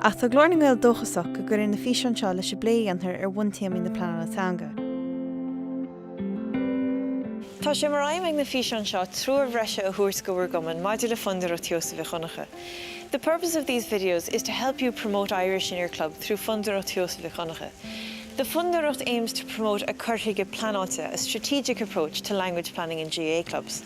Ach tá Glór na nGael dóchasach go gcuirfidh na físeáin seo leis an bplé a dhéantar ar bhuntéamaí na pleanála teanga. Tá sé mar aidhm ag na físeáin seo treoir bhreise a thabhairt go bhur gcumann maidir le Fondúireacht Sheosaimh Mhic Dhonncha The purpose of these videos is to help you promote Irish in your club through Fondúireacht Sheosaimh Mhic Dhonncha The Fondúireacht aims to promote a cur chuige pleanáilte a strategic approach to language planning in GAA clubs.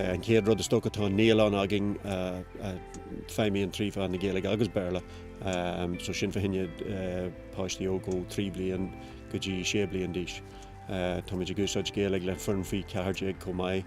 An chéad rud is dócha tá naíolann againn a fheidhmíonn trí mheán na Gaeilge agus Béarla so sin fá choinne páistí óg ó trí bliain go dtí sé bliain d'aois. Táimid ag úsáid Gaeilge le foireann faoi 14 chomh maith.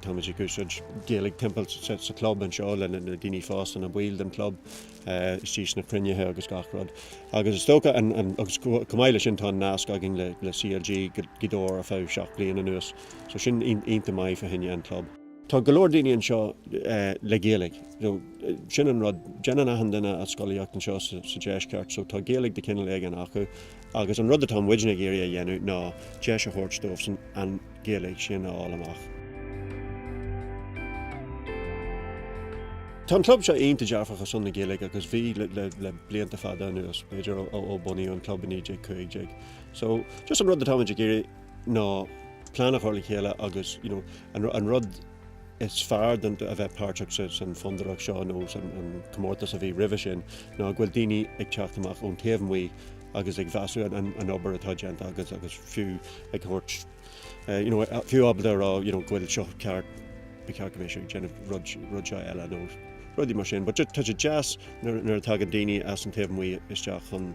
Táimid ag úsáid Gaeilge timpeall sa club anseo le na daoine fásta, na baill den club, istigh sna cruinnithe agus gach rud. Agus is dócha an, agus chomh maith le sin tá an nasc againn le CLG Gaoth Dobhair ar feadh seacht bliain anuas. So sin iontach maith fá choinne an club. Tá go leor daoine anseo le Gaeilge, so sin an rud, déanann achan duine a scolaíocht anseo sa deisceart so tá Gaeilge de chineal éigin acu Agus an rud atá muidne ag iarraidh a dhéanamh ná deis a thabhairt dóibhsan an Ghaeilge sin a fháil amach. Tá an club seo iontach dearfach ar son na Gaeilge agus bhí le blianta fada anuas, b'fhéidir ó bunaíodh an club i 1915. So just an rud atáimid ag iarraidh ná plean a chur le chéile agus an rud is fearr de a bheith páirteach san Fondúireacht seo nó an comórtas a bhí roimhe sin ná go bhfuil daoine ag teacht amach ón taobh amuigh agus ag measúnú an obair atá déanta agat agus fiú ag thabhairt you know fiú ábalta a rá you know go bhfuil seo ceart ba cheart go mbeadh sibh ag déanamh rud seo eile nó rudaí mar sin, but tá sé deas nuair a tagann daoine as an taobh amuigh isteach chun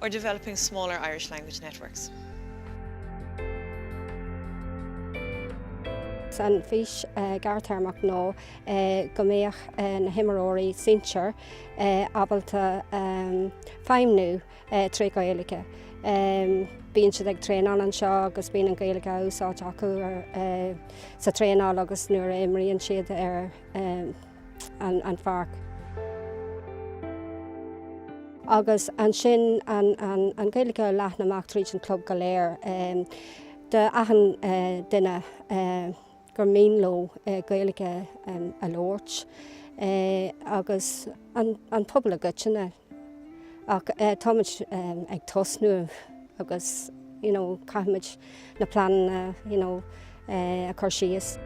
or developing smaller Irish language networks. An fís gearrthéarmach ná go mbeadh na himreoirí sinsir ábalta feidhmiú trí Ghaeilge. Bíonn siad ag traenáil anseo agus bíonn an Ghaeilge á úsáid acu sa traenáil agus nuair a imríonn siad ar an pháirc. Agus ansin an Ghaeilge a leathnú amach tríd an chlub go léir. D'achan duine gur mian leo Gaeilge a labhairt agus an pobal i gcoitinne. Ach táimuid ag tosnú agus you know caithfimid na pleananna you know a chur síos.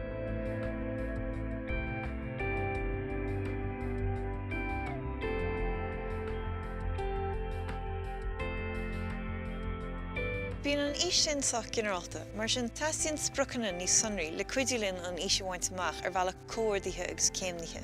Bíonn an fhís sin sách ginearálta, mar sin teastaíonn spriocanna níos sonraí le cuidiú linn an fhís a bhaint amach ar bhealach comhordaithe agus céimnithe.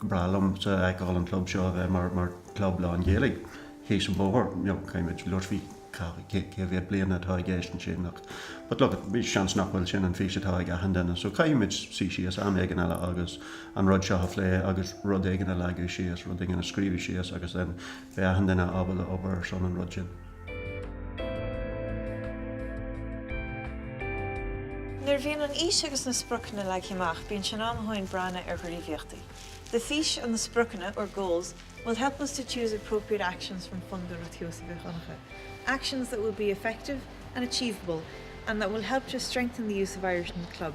breá liomsa fheiceáil an club seo a bheith mar club lán Ghaeilge thíos an bóthar, you know, kind of luaifí cé mhéad bliana atá i gceist ansin ach but look at b'fhéidir seans nach bhfuil sin an fís atá ag achan duine so caithfimid suí síos am éigin eile agus an rud seo a phlé agus rud éigin a leagadh síos, rud éigin a scríobhadh síos agus then beidh achan duine ábalta obair ar son an rud sin. Nuair a bhíonn an fhís agus na spriocanna leagtha amach bíonn sé in am dhúinn breathnú ar ghníomhaíochtaí. The fís and the spriocanna, or goals, will help us to choose appropriate actions from Fondúireacht Sheosaimh Mhic Dhonncha, actions that will be effective and achievable and that will help to strengthen the use of Irish in the club.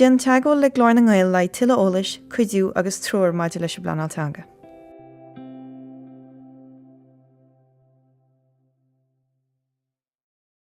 Déan teagmháil le Glór na nGael le haghaidh tuilleadh eolais, cuidiú agus treoir maidir leis an bpleanáil teanga.